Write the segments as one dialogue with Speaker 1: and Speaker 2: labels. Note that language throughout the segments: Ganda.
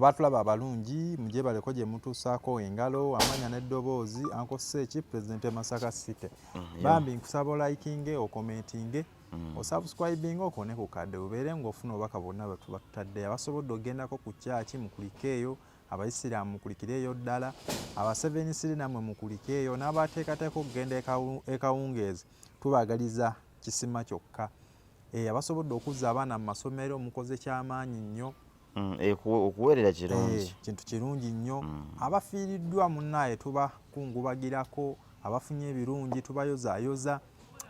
Speaker 1: abaatulaba abalungi mugyebaleko gye mutuusaako engalo amanya n'eddoboozi anko seeki pulezidenti emasaka city mm, bambi nkusaba olayikinge okomentinge mm. osubscribinga okone ku kadde obeere ng'ofuna obubaka bwonna bwetuba tutadde abasobodde okgendako ku kyaki mukulikeeyo abayisiraamu mukulikireeyo ddala abasevenisiri namwe mukulikeeyo n'abateekateeka okugenda ekawungeezi tubagaliza kisima kyokka eh, abasobodde okuzza abaana mu masomero mukoze kyamaanyi nnyo mm, eh, okuweerera
Speaker 2: kirungi eh, kintu kirungi nnyo
Speaker 1: mm. abafiiriddwa munnaaye tubakungubagirako abafunye ebirungi tubayozayoza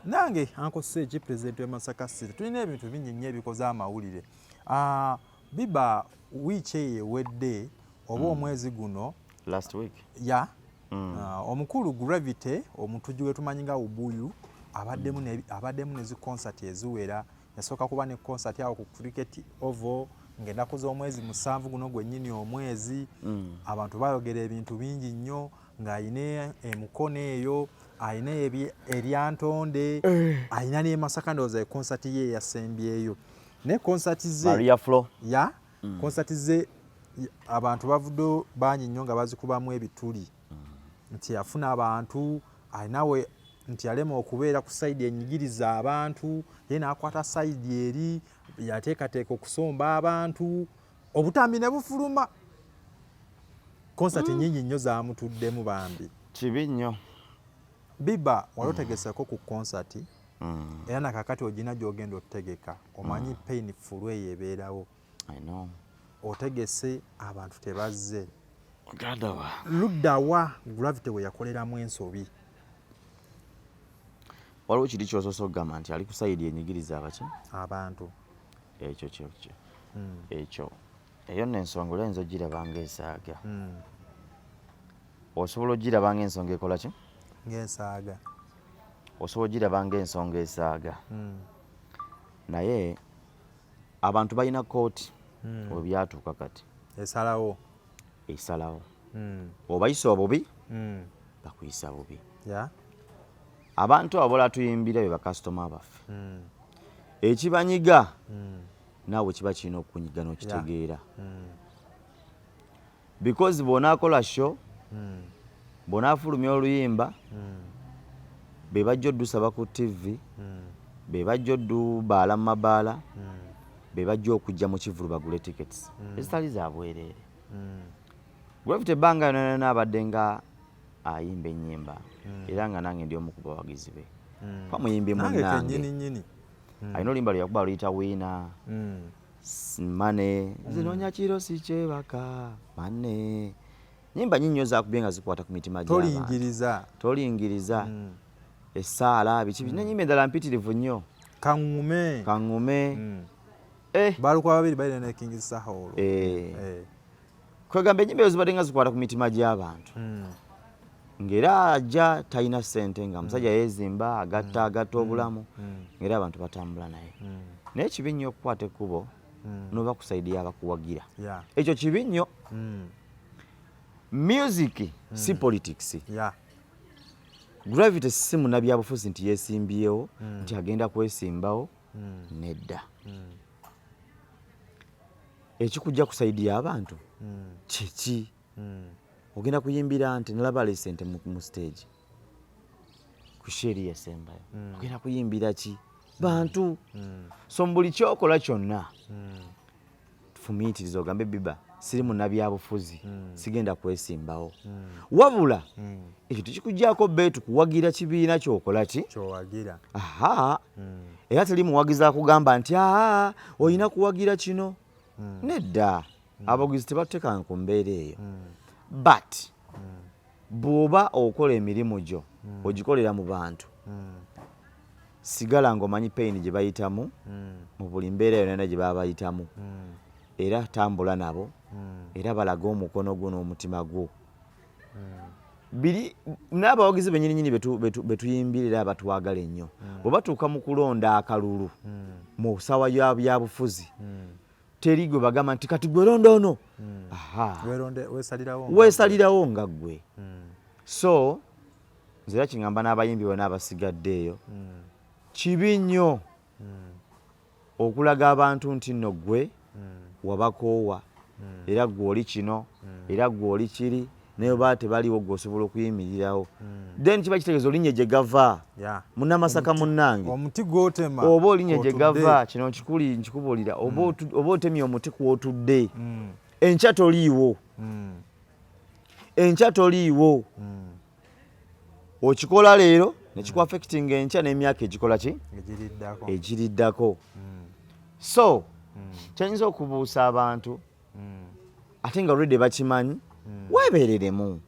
Speaker 1: nange ankosa eki pulezidenti wemasaka city tulina ebintu bingi nnyo ebikoze amawulire ah, Biba wiiki eyo ewedde oba mm. omwezi guno last week
Speaker 2: ya mm. uh,
Speaker 1: omukulu gravity omutuji wetumanyi nga ubuyu abaddemu mm. abaddemu nezi concert eziwera yasooka kuba ne concert awo ku cricket ovo ngaenaku z'omwezi musanvu guno gwennyini omwezi mm. abantu bayogera ebintu bingi nnyo ng'alina emukono eyo alina eryantonde eh. alina nemasaka ndowooza ekonsati ye eyasembyeyo ne concert ze Maria Flo ya
Speaker 2: mm. concert
Speaker 1: ze abantu bavudde bangi nnyo nga bazikubamu ebituli mm. nti yafuna abantu alinawe nti yalema okubeera ku saidi enyigiriza abantu ye nakwata saidi eri yateekateeka okusomba abantu obutambi ne bufuluma konsati mm. nyingi nnyo zamutuddemu bambi kibi nnyo
Speaker 2: biba
Speaker 1: wali mm. otegeseko ku konsati mm. era nakakati ogina gyogenda otegeka omanyi mm. pain fulu eyo ebeerawo otegese abantu tebazze luddawa gravity weyakoleramu ensobi
Speaker 2: waliwo kiri kyosoose okugamba nti ali kusayidi enyigiriza abaki abantu
Speaker 1: ekyo kyekyo mm.
Speaker 2: ekyo eyo nno ensonga oli oyinza ogiraba ngaesaaga hmm. osobola ogiraba ngaensonga ekola ki ngaesaaga osobola ogiraba ngaensonga esaaga hmm. naye abantu balina kooti hmm. webyatuuka kati esalawo
Speaker 1: esalawo
Speaker 2: obayisa obubi bakuyisa bubi abantu abo bola tuyimbira be bakasitoma baffe ekibanyiga naawe kiba kirina okukunyiga n'okitegeera hmm. because bw'onaakola sho hmm. bw'onaafulumya oluyimba hmm. be bajja oddusaba ku ttivi be bajja oddubaala mu mabaala be bajja okujja mu kivulu bagule tickets ezitali za bwereere gravity ebbanga yonayona abadde nga ayimba ennyimba era nga nange ndi omu ku bawagizi be pamuyimbi munange mm. alina oluyimba lweyakuba aluyita wiina mm. mane mm. zinoonya kiro sikyebaka mane nyimba nyinyi nyo zakubye nga zikwata ku mitima gy'abantu tolingiriza mm. essaala biki mm. nenyimba endala mpitirivu nnyo kaŋume kaŋume mm.
Speaker 1: eh. balikuba babiri balina ne king saha olwo eh. eh. kwegamba
Speaker 2: enyimba ezo zibadde nga zikwata ku mitima gy'abantu hmm. ng'era ajja talina ssente nga musajja hmm. yeezimba agatta hmm. agatta obulamu ng'era abantu batambula naye naye kibi nnyo okukwata ekkubo noba ku saidi y'abakuwagira ekyo kibi nnyo music si politics gravity si munabyabufuzi nti yeesimbyewo nti agenda kwesimbawo mm. nedda mm. ekikujja kusaidiya abantu mm. kyeki mm. ogenda kuyimbira nti nalaba alese nti mu stage ku sheri esembayo mm. ogenda kuyimbira ki bantu mm. so mbuli kyokola kyonna mm. fumiitiriza ogambe biba siri munabyabufuzi hmm. sigenda kwesimbawo hmm. wabula hmm. ekyo tekikugyako beetu kuwagira kibiina kyokola ki kyowagira aha era teri muwagizi akugamba nti aa olina kuwagira kino nedda abawagizi tebatekanga ku mbeera eyo but bw'oba okola emirimu gyo hmm. ogikolera mu bantu hmm. sigala ng'omanyi peyini gye bayitamu hmm. mu buli mbeera yonana gye baba bayitamu era tambula nabo era balaga omukono gwo n'omutima gwo biri n'abawagizi benyininyini betuyimbirira abatwagala ennyo bwe batuuka mu kulonda akalulu mu sawa ya byabufuzi teri gwe bagamba nti kati gwe londa ono hmm. wesalirawo nga gwe hmm. so nze era kingamba n'abayimbi bona abasigadde eyo hmm. kibi nnyo okulaga abantu nti nno gwe wabakoowa era gwe oli kino era gwe oli kiri naye oba tebaliwo gwe osobola okuyimirirawo hmm. then kiba kitegeeza olinya gye gava munamasaka munnange omuti gwotema
Speaker 1: oba olinya gye gava
Speaker 2: kino nkikuli nkikubuulira oba hmm. otemye omuti kwotudde hmm. enkya toliiwo enkya toliiwo okikola leero nekiku affectinga enkya n'emyaka egikola ki egiriddako so kyenyinza okubuusa abantu mm. ate nga olwedde bakimanyi mm. weebereremu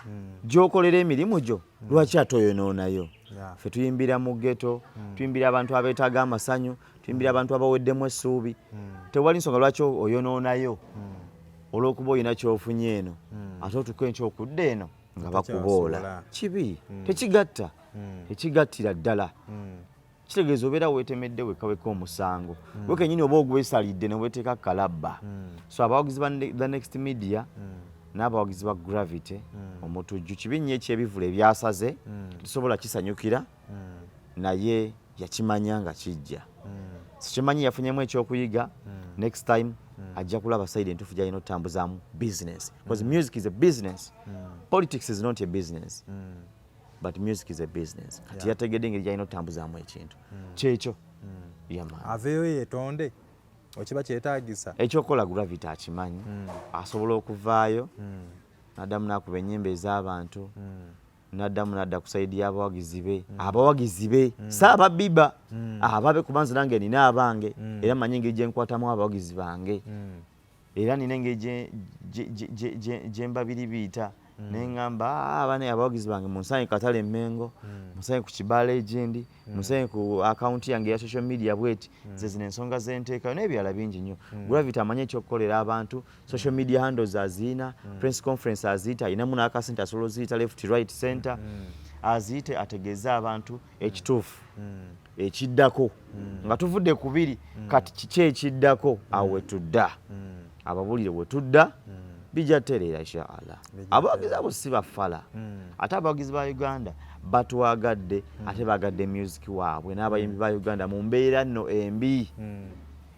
Speaker 2: mm. gyokolera emirimu gyo mm. lwaki ate oyonoonayo yeah. fe tuyimbira mu geto mm. tuyimbira abantu abeetaaga amasanyu tuyimbira mm. abantu abaweddemu essuubi mm. tewali nsonga lwaki oyonoonayo mm. olw'okuba olina kyofunye eno mm. ate otuka enkyo okudda eno nga bakuboola kibi mm. tekigatta mm. tekigattira ddala mm. kitegeeza obeera weetemedde wekka wekka omusango mm. gwe kenyini oba ogwesalidde ne weeteeka kalabba mm. so abawagizi ba the next media mm. n'abawagizi ba gravity mm. omutujju kibi nnyo ekyebivula ebyasaze mm. tusobola kisanyukira mm. naye yakimanya nga kijja mm. sikimanyi yafunyemu ekyokuyiga mm. next time mm. ajja kulaba saidi entuufu gyalina otutambuzamu business bcause mm. music is a business mm. politics is not a business mm. but music is a business kati yeah. yategedde engeri gyalina otambuzaamu ekintu mm. kyekyo mm. yama aveyo yetonde
Speaker 1: okiba kyetagisa ekyokukola gravity
Speaker 2: akimanyi mm. asobola okuvaayo mm. nadamu nakuba enyimba ez'abantu mm. naddamu nadda kusaidi y'abawagizi be mm. abawagizi be mm. si ababiba mm. ababe kubanze nange nina abange mm. era manyi engeri gyenkwatamu abawagizi bange mm. era nina engeri gyembabiribiita mm. naye ngamba ah, abana abawagizi bange munsanye katale emengo mm. munsanye ku kibaala egyendi mm. munsanye ku akawunti yange eya social media bweti nze zino ensonga zenteekayo n'ebirala bingi nnyo gravity amanyi ekyokukolera abantu social media handles aziina prince conference aziyita ayinamu n'akasente asobola oziyita left right center aziyite ategeeze abantu ekituufu mm. ekiddako mm. nga tuvudde ku biri mm. kati kiki ekiddako awo wetudda ababulire wetudda bijja tereera inshaallah abawagizi abo si bafala ate abawagizi ba uganda batwagadde ate bagadde music waabwe n'abayimbi ba uganda mu mbeera nno embi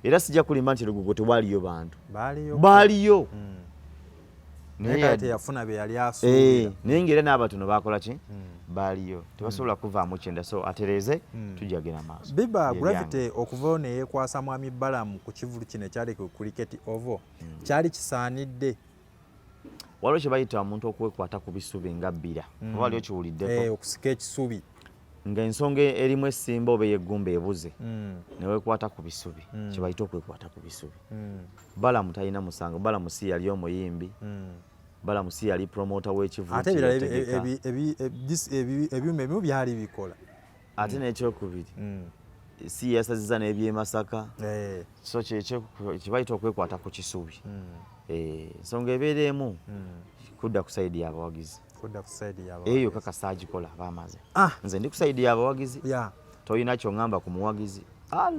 Speaker 2: era sijja kulimba nti lugugo tewaliyo bantu baaliyo
Speaker 1: naye teyafuna bye yali asuubira eh, naye ng'era n'abatono
Speaker 2: baakola ki hmm. baaliyo tebasobola hmm. kuvaamu kyenda so atereeze hmm. tujagera maaso biba gravity
Speaker 1: okuvayo ne yeekwasa mwami balamu ku kivulu kino ekyali ku cricket ovo kyali kisaanidde
Speaker 2: waliwo kye bayita omuntu okwekwata ku bisubi nga bbira oba waliwo kiwuliddeko eh, okusika ekisubi
Speaker 1: nga ensonga
Speaker 2: erimu esimba oba eyeggumba ebuze mm. newekwata ku bisubi mm. kyebayita okwekwata ku bisubi mm. balamu talina musango balamu si yali omuyimbi balamu si yali promota wekivate
Speaker 1: ebyuma ebimu byali bikola ate
Speaker 2: nekyokubiri si yasaziza nebyemasaka eh. so kyebayita okwekwata ku kisubi Eh, nsonga ebeera emu hmm. kudda ku saidi yabawagizi eyo yokka kasita agikola bamaze ah. nze ndi ku saidi yabawagizi tolina kyoŋamba ku muwagizi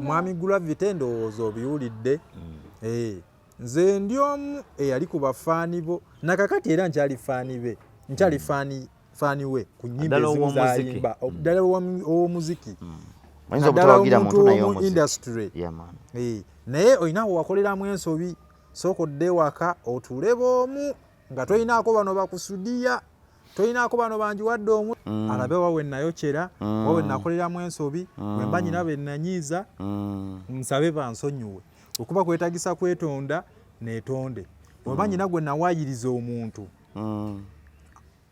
Speaker 2: mwami
Speaker 1: gravity endowooza obiwulidde hmm. eh, nze ndi omu eyali ku bafaani bo nakakati era nkyali faani be nkyali hmm. faani faani we ku nyimba ezimu zayimba ddala ow'omuziki naddala omuntu omu industry eh, naye olina wewakoleramu ensobi sooka odde ewaka otuule boomu nga tolinaako bano bakusudiya tolinaako bano banjiwadde omu mm. alabe wa we nayokyera mm. wa we nakoleramu ensobi mm. we mba nyina be nanyiiza mm. nsabe bansonyiwe okuba kwetagisa kwetonda netonde wemba mm. nyina gwe nawayiriza omuntu mm.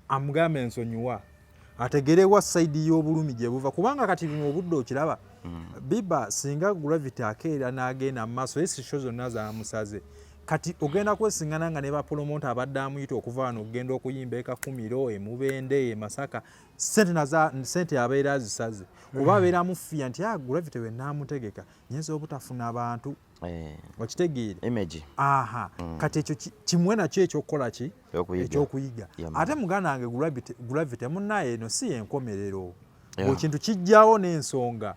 Speaker 1: amugambe nsonyiwa ategere wa side y'obulumi gye buva kubanga kati bino obudde okiraba mm. biba singa gravity akeera n'agenda mu maaso esi sho zonna zamusaze kati ogenda kwesingana nga ne bapolomota abadde amuyita okuva wano okugenda okuyimba ekakumiro emubende emasaka sente abeera azisaze oba mm. abeera amufiya nti ah, gravity wenaamutegeka nyinza obutafuna bantu Eh. okitegeere aha mm. kati ekyo kimwe nakyo ekyokukola ki ekyokuyiga ate muganda wange gravity munaye eno si yenkomerero ekintu kijjawo n'ensonga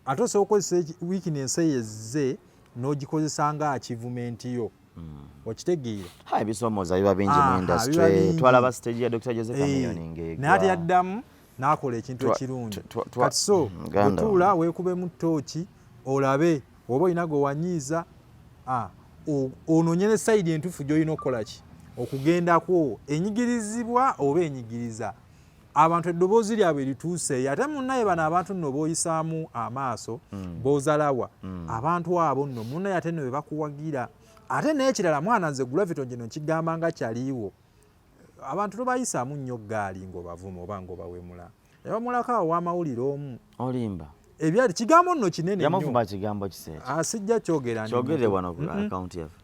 Speaker 1: ate osobola okozesa wikinensi eyo ezze n'ogikozesa nga akivumenti yo mm. okitegeera ebisomooza
Speaker 2: biba bingi mu industry twalaba stage ya dr jose eh. kamiyoni ngegwa naye ate yaddamu
Speaker 1: n'akola ekintu ekirungi kati so mm, otuula weekubemu tooki olabe oba olina gwe wanyiiza onoonye ne sayidi entuufu gy'olina okukola ki okugendakwo enyigirizibwa oba enyigiriza abantu eddoboozi lyabwe lituuseeyo ate munaye bano abantu nno boyisaamu amaaso mm. bozalawa mm. abantu abo nno munaye ate nno bebakuwagira ate nekirala mwana nze gulaviton gino nkigamba nga kyaliiwo abantu tobayisaamu nnyo ggaali ng'obavuma oba ng'obawemula yabamulako awo wamawulire omu olimba
Speaker 2: ebyali kigambo
Speaker 1: nno kinene yamuvuma kigambo kiseera
Speaker 2: ah, sijja kyogera
Speaker 1: kyogere wano ku
Speaker 2: akawunti yaffe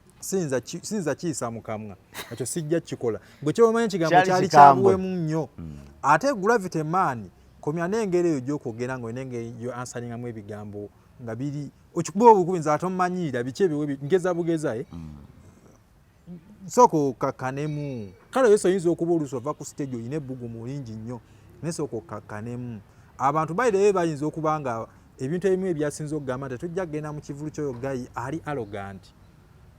Speaker 2: siyinza
Speaker 1: kiyisa mukamwa ekyo sijja kikola gwe kyomanyi ekigambo kyali kyabuwemu nnyo hmm. ate gravity maani komya n'engeri eyo gyokwogera nga olina engeri yo ansalingamu ebigambo nga biri okikuba obukubinza ate omumanyiira biki ebiwe ngeza bugeza e eh? hmm. sooka okakkanemu kale yesu oyinza okuba oluusi ova ku siteegi olina ebbugumu lingi nnyo naye sooka okakkanemu abantu bayirayo bayinza okuba nga ebintu ebimu ebyasinza okugamba nti tujja kugenda mu kivulu kyoyo gayi ali arogant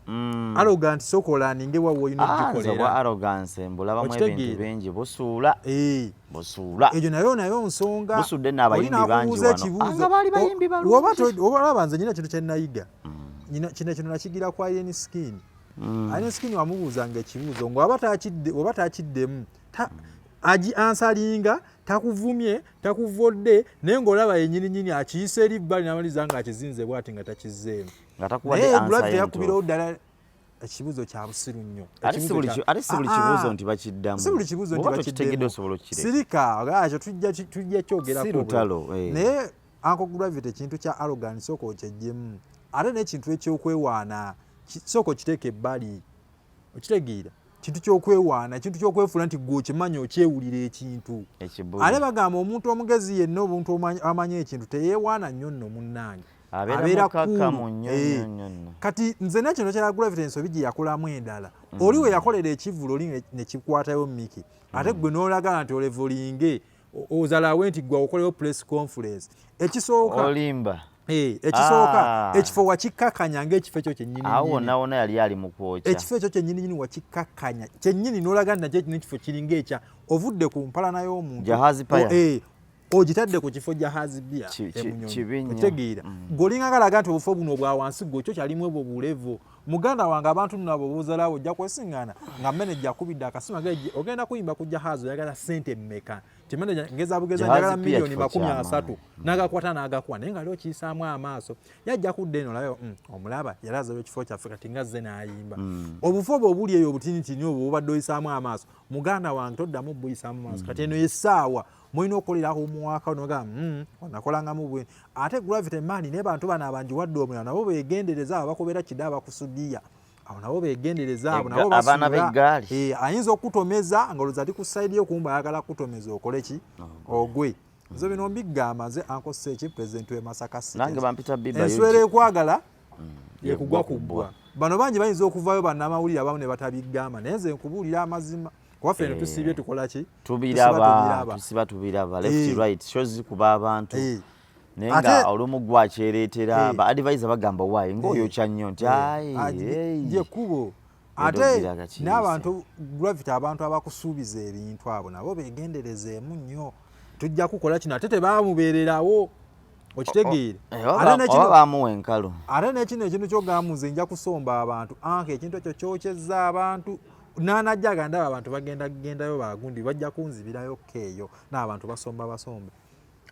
Speaker 1: mm. arogant sooka olaninge wawe olina ogikoleraokitegeeraingi
Speaker 2: busuula eh. busuula egyo nayo nayo
Speaker 1: nsonga olina
Speaker 2: kubuuza ekibuuzo ah, oba nze nyina kintu
Speaker 1: kyenayiga mm. kino kino nakigira kwa yeni skin mm. ayeni skin wamubuuzanga ekibuuzo nga oba takiddemu agi ansalinga takuvumye takuvodde naye ngaolaba yenyininyini akiyisa eri bbali namaliza nga akizinze bwati nga takizeemu naye gravity yakubirawo ddala ekibuzo kya busiru nnyo ate si
Speaker 2: buli ah, kibuzo ah. nti bakiddamu si buli kibuzo nti
Speaker 1: bakiddamu
Speaker 2: sirika
Speaker 1: ekyo tujja kyogerako eh.
Speaker 2: naye anko
Speaker 1: gravity kintu kya arrogant soko okyejjemu ate nekintu ekyokwewaana soko kiteeka ebbali okitegeera kintu kyokwewaana ekintu kyokwefuula nti gwe okimanyi okyewulira ekintu ate bagamba omuntu omugezi yenna obuntu amanyi ekintu teyewaana nnyo nno munnange abeera kulu eh.
Speaker 2: kati nze
Speaker 1: nekino kya gravity ensobi gye yakolamu endala mm. oli we yakolera ekivulu oli nekikwatayo miki ate mm. gwe nolagala nti olevulinge ozalawe nti gwa okolewo press conference ekisooka olimba
Speaker 2: eh, ekisooka
Speaker 1: ah. ekifo wakikakanya ngaekifo ekyo kyenyiniawonawona yali ali
Speaker 2: mukwokya ekifo ekyo kyenyininyini
Speaker 1: wakikakanya kyenyini nolaga nti nakyo kino ekifo kiringa ekya ovudde ku mpalana y'omuntu eh,
Speaker 2: ogitadde
Speaker 1: ku kifo jahazi bia emunyonyi otegeera mm. golinga galaga nti obufo buno obwawansi gwe kyo kyalimu ebwo bulevo muganda wange abantu nno abo buzalawo ojja kwesiŋŋaana nga meneja akubidde akasima ge ogenda kuyimba ku jahazi oyagala sente mmeka nti meneja ngeza bugeza njagala miliyoni makumi asatu mm. n'agakwata n'agakuwa naye nga li okiyisaamu amaaso yajja kudda eno olabe mm, omulaba yali azawo ekifo kyaffe kati nga zze n'ayimba mm. obufu obwo obuli eyo obutinitini obwo bubadde oyisaamu amaaso muganda wange toddamu buyisaamu maaso kati eno esaawa mulina okukolera awo muwaka onoga mm, onakolangamu bwe ate gravity mani naye bantu bano abanjiwadde omulala nabo begendereza abo bakubera kida abakusudiya abo nabo begendereza abo nabo abaana b'eggaali
Speaker 2: eh, ayinza okutomeza
Speaker 1: nga oluza ali ku sayidi yo kumba ayagala kutomeza okole ki oh, ogwe nze bino mbigamba nze ankosa eki pulezidenti w'emasaka enswera
Speaker 2: ekwagala
Speaker 1: mm, yekugwa kubbwa bano bangi bayinza okuvayo bannamawulire abamu ne batabigamba naye nze nkubuulira amazima kuba ffe ne eh. tusiibye tukola ki tubiraba tusiba
Speaker 2: tubiraba left eh. right shows zikuba abantu eh. naye nga olumu gwakyereetera eh. ba advisor bagamba wayi ngaoyo kya nnyo nti ayekubo
Speaker 1: ate n'abantu gravity abantu abakusuubiza ebintu abo nabo begenderezeemu nnyo tujja kukola kino ate tebamubeererawo okitegeere
Speaker 2: bamuwa enkalu ate nekino ekintu
Speaker 1: kyogamuze nja kusomba abantu anka ekintu ekyo kyokyeza abantu nanajja agandaba abantu bagenda gendayo bagundi bajja kunzibirayo keeyo naabantu basomba basomba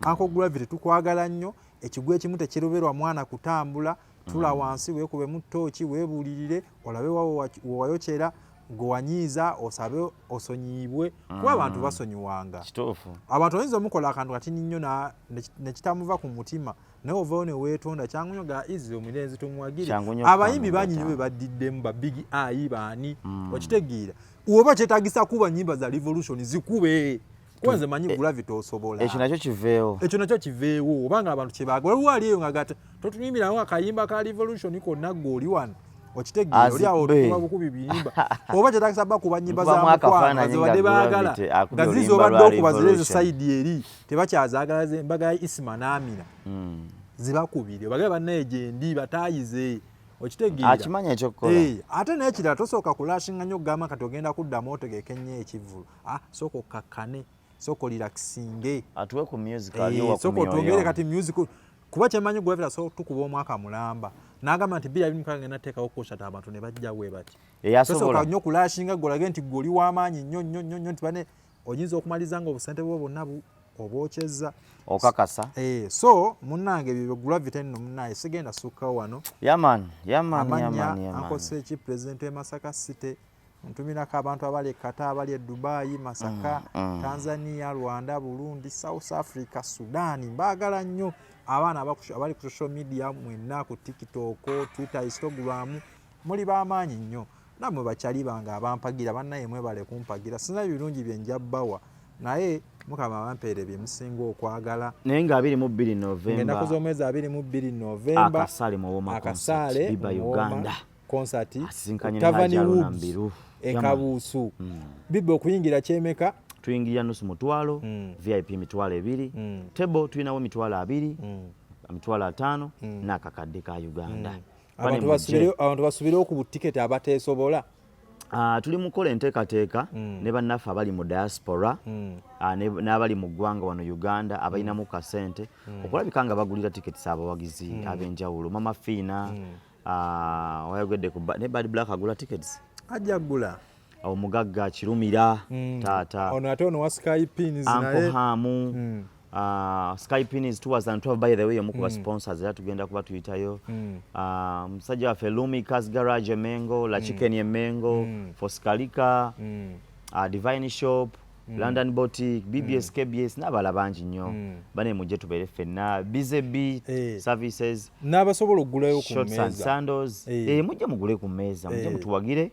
Speaker 1: ako gravity tukwagala nnyo ekigwa ekimu tekiroberwa mwana kutambula tula mm. wansi wekubemu tooki webulirire olabe wawo wewayokyera gwewanyiiza osabe osonyiyibwe kuba mm. abantu basonyiwanga abantu oyinza omukola akantu katini nnyo nekitamuva ku mutima naye ovayo newetonda kyangunyo ga izi omulenzi tumuwagire abayimbi banyi nyo bebaddiddemu ba big i baani mm. okitegeera oba kyetagisa kuba nyimba za revolution zikube kwanze manyi e- gravity osobola ekyo nakyo kiveewo
Speaker 2: ekyo nakyo kiveewo obanga abantu kyebaga waliwo
Speaker 1: ali eyo ngagata totuyimbirawo akayimba ka revolution konna gwe oli wano okitegeera oli awo tukuba bukubi biyimba oba kyetagisa ba kuba nyimba za mukwano zibadde baagala nga zizi obadde okuba zirezi sayidi eri tebakyazagala ze mbaga ya isima n'amina hmm. zibakubire bagale bannaye gyendi bataayize okitegeeraakimanya ekyokukola
Speaker 2: eh, ate naye kirala
Speaker 1: tosooka kulashinga nnyo okugamba kati ogenda kuddamu otegeke nnyo ekivvulu ah, sooka okkakkane sooka olirakisinge atuwe ku music
Speaker 2: eh, aliwo
Speaker 1: sooka
Speaker 2: otwongere
Speaker 1: kati music kuba kyemanyi gwevera so tukuba omwaka mulamba nagamba nti bira bimu kagenda teekawo kushata abantu ne bajja bwe bati eyasobola nnyo
Speaker 2: kulashinga golage
Speaker 1: nti gwe oli w'amaanyi nnyo nnyo nnyo nnyo nti bane oyinza okumaliza nga obusente bwo bonna obwokyezza okakasa
Speaker 2: eh, so
Speaker 1: munange byo gravity nno munaye sigenda sukka wano yaman yaman amanya akosa eki president e masaka city ntumirako abantu abali ekata abali edubayi masaka mm, mm. tanzania rwanda burundi south africa sudan mbaagala nnyo abaana abali ku social media mwenna ku tiktok twitter instagram muli bamaanyi nnyo namwe bakyali bange abampagira banaye mwebale kumpagira sina birungi byenja bawa naye mukama abampeere byemusinga okwagala naye nga 22
Speaker 2: novemba ennaku z'omwezi 22
Speaker 1: novemba akasaale mu woma
Speaker 2: akasaale biba
Speaker 1: uganda
Speaker 2: concert
Speaker 1: tavani
Speaker 2: woods
Speaker 1: ekabuusu hmm. biba okuyingira kyemeka tuyingirira nusu
Speaker 2: mutwalo hmm. vip mitwalo ebiri hmm. table tulinawo mitwalo abiri mitwalo ataano n'akakadde ka uganda
Speaker 1: abantu basubirewo ku butiketi abateesobola Uh, tuli
Speaker 2: mukola enteekateeka mm. ne bannaffe abali mu diaspora mm. uh, n'abali mu ggwanga wano uganda abalinamu mm. kasente mm. okulabika nga bagulira tiketi z'abawagizi mm. ab'enjawulo mama fiina mm. uh, wayogedde ku ne bad black agula tiketi ajja gula
Speaker 1: omugagga
Speaker 2: kirumira mm. taata ono ate ono wa sky
Speaker 1: pins naye hamu mm.
Speaker 2: Uh, ah, skypin is towards and 12 by the way omukuba mm. sponsors era tugenda kuba tuyitayo mm. uh, musajja waffe lumi cas garage emengo la mm. chicken mm. emengo mm. foskalika mm. uh, divine shop mm. london botic bbs mm. kbs n'abala bangi nnyo mm. bane mujje tubeere ffenna bzb hey. Eh. services n'abasobola okugulayo
Speaker 1: ku meeza sandals
Speaker 2: hey. Eh. hey, eh, mujje mugule ku meeza mujje hey. mutuwagire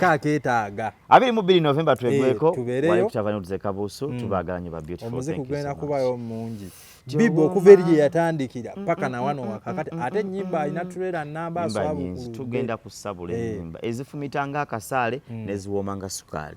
Speaker 1: kaketaaga abiri mu bbiri novemba
Speaker 2: twegweko eh, tubeereyo kutava nuduze kabuusu mm. tubaagala nyo ba beautiful omuze kugenda kubayo
Speaker 1: mungi bibu okuva eri gye yatandikira mm, paka mm, na wano wakakati ate ennyimba alina tureera namba aswabukulu tugenda
Speaker 2: kusabula eh. ennyimba ezifumita nga
Speaker 1: akasaale
Speaker 2: neziwooma nga sukaali